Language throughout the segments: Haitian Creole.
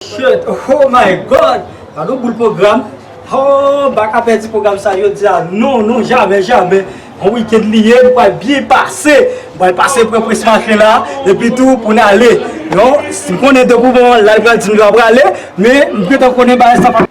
Shirt oh my God gadon boul program hoo baka pèdi program sa jodia non non jamè jamè bon weekend li ye nou pral byen pase nou pral pase pran prince marche la epi tou poun ale non si m konnen depi w bon la li pral di m lè w prale men m gentan konnen bagay sa pap.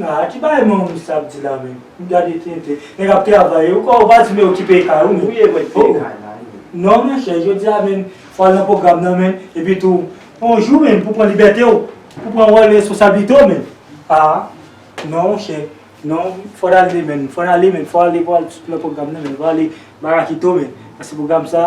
Haa ki bagay manman misye ap di la menm m gade tenten nèg ap travay yo kò ou pa di men yo kipe kay ou menm hoo non monchè jodia menm fò al nan pwogram nan menm epi tou yon jou menm pou pran libète w pou pran wòl responsablite w menm haa non monchè non fò n ale menm fò n ale menm fò ale pou al nan pwogram nan menm fò ale barakito menm paske pwogram sa.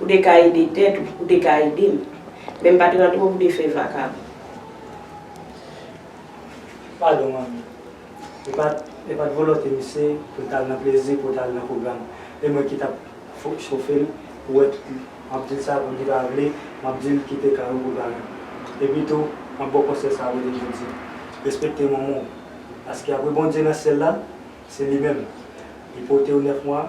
Ou te ka ede tèt ou, ou te ka ede m. Men m pa t rantre ou te fè vakabon. Padon manmi. E pa t e pa t volonte misye pou l t al nan plezi, pou l t al nan pwogram. E mwen ki t ap chofe l pou wè tout li. M ap di l sa pou li pa vle, m ap di l kite kay ou pou kay m. Epitou, m ap ba w konsèy sa a rele jodi. Respekte manman w. Paske apre Bondye nan syèl la, se li menm. Li pote w nèf mwa.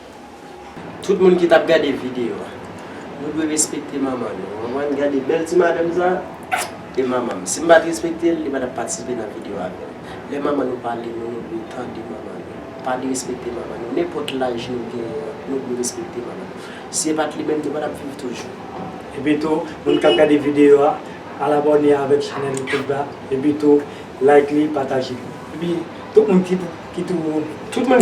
Tout moun ki tap gade video a. Nou dwe respekte manman nou. Ou konprann? Gade bèl ti madanm sa a. E manman m. Si m pa t respekte l, li pa t ap patisipe nan video avè m. Lè manman nou pale nou, nou dwe tande manman nou. Pa derespekte manman nou. Nenpòt laj nou genyen an, nou dwe respekte manman nou. Si e pa t li menm, nou pa t ap viv toujou. Epi tou, moun k ap gade video a, al abòne avèk chanèl Youtube la. Epi tou, like li, pataje li. Epi. Tout moun ki tou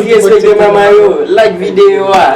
respekte mama yo like video a.